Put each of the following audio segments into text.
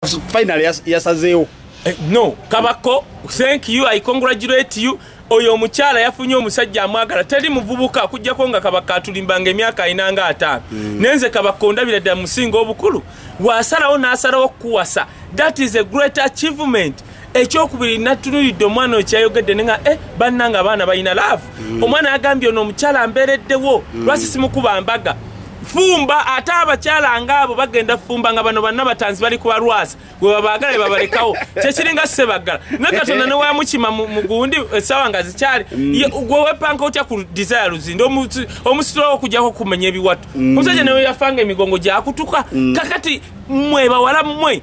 finally yasazeewo eh, no kabako thank you i congratulate you oyo omukyala yafunye omusajja amwagala teri muvubuka akujjako nga kabaka atulimbanga emyaka alina nga ataano mm. nenze kabaka ondabira ddala musinga obukulu wasalawo n'asalawo okukuwasa that is a great achievement ekyokubiri natunuridde omwana okyayogedde nenga e eh, bannanga abaana balina laavu mm. omwana yagambye ono omukyala ambeereddewo mm. lwasi simukuba mbaga fumba ate abakyala nga abo bagenda fumba nga bano banna batanzi bali kuba lwasi gwe babaagala e babalekawo kyekiringa sebaggala naye katonda newayamukima mugundi essaawa eh, nga zikyali mm. gwe wepanka otya ku desire luzinde omusitulawo okujjako okumenya ebiwatu omusajja newe yafanga emigongo gyakutuka kakati mwe bawala mmwe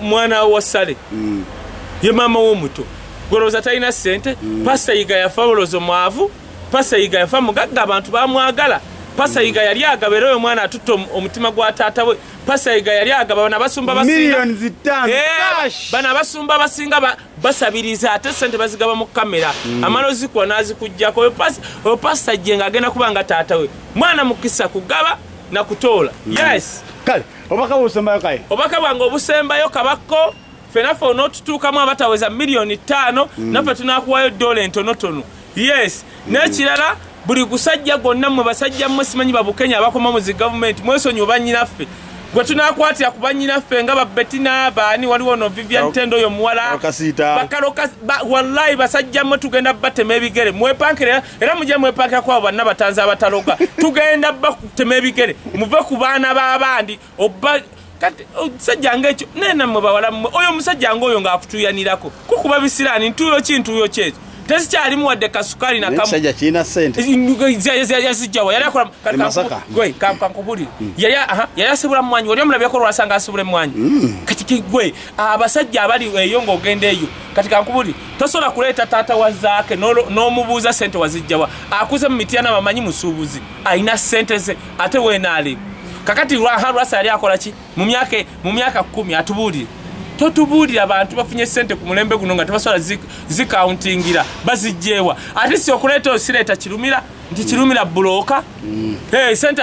mwana wa sale mm. ye maama womuto gwolowooza talina sente mm. pasa yiga yafa olowooza omwavu pasa yiga yafa mugagga abantu bamwagala pasa mm. yiga yali agaba era oyo omwana atutte omutima gwa taata we pasa yiga yali agaba bana basumba bana abasumba abasinga basabiriza ate sente bazigaba mu kamera mm. amala ozikuwa nazikugjako oyo pasa jje nga agenda kuba nga taata we mwana mukisa kugaba nakutoola yes kale obubaka bwobusembayo kaye obubaka bwange obusembayo kabakko fenaffe onootutuukamu abataweza miliyoni ttaano mm. naffe tunakuwayo dola entonotono yes mm. n'ekirala buli gusajja gwonna mwe basajja mmwe simanyi babukenya abakoma muzi gavumenti mwesonyi obanyinaffe gwe tunakwatira ku banyinaffe nga babetina baani waliwo no vivian tendo oyo muwala wallayi basajja mmwe tugenda batema ebigere mwepankirera era mujja mwepakira kwabo banna batanzi abataloga tugenda bakutema ebigere muve ku baana b'abandi oba kati omusajja oh, nga ekyo naye nammwe bawala mmwe oyo omusajja nga oyo ng'akutuuyanirako kukuba bisiraani ntuuyo ki ntuuyo kyezo tezikyalimu wadde kasukaali nakamuyazijjawa yali akola kankubuli yali asibula mwanyi wali omulabyeko olwasanga asibula emwanyi hmm. kati gwe abasajja abali eyo ng'ogenda eyo kati kankubuli tosobola kuleeta taata wa zaake n'omubuuza sente wazijjawa akuze mu mityana bamanyi musuubuzi alina sente ze ate weenaali kakati lwaha lwasa yali akola ki mu myaka kkumi atubuulire totubuulira bantu bafunye sente ku mulembe guno nga tebasobola zikauntingira bazijjeewa ate si okuleeta osireeta kirumira nti kirumira bulooka mm. eh, sente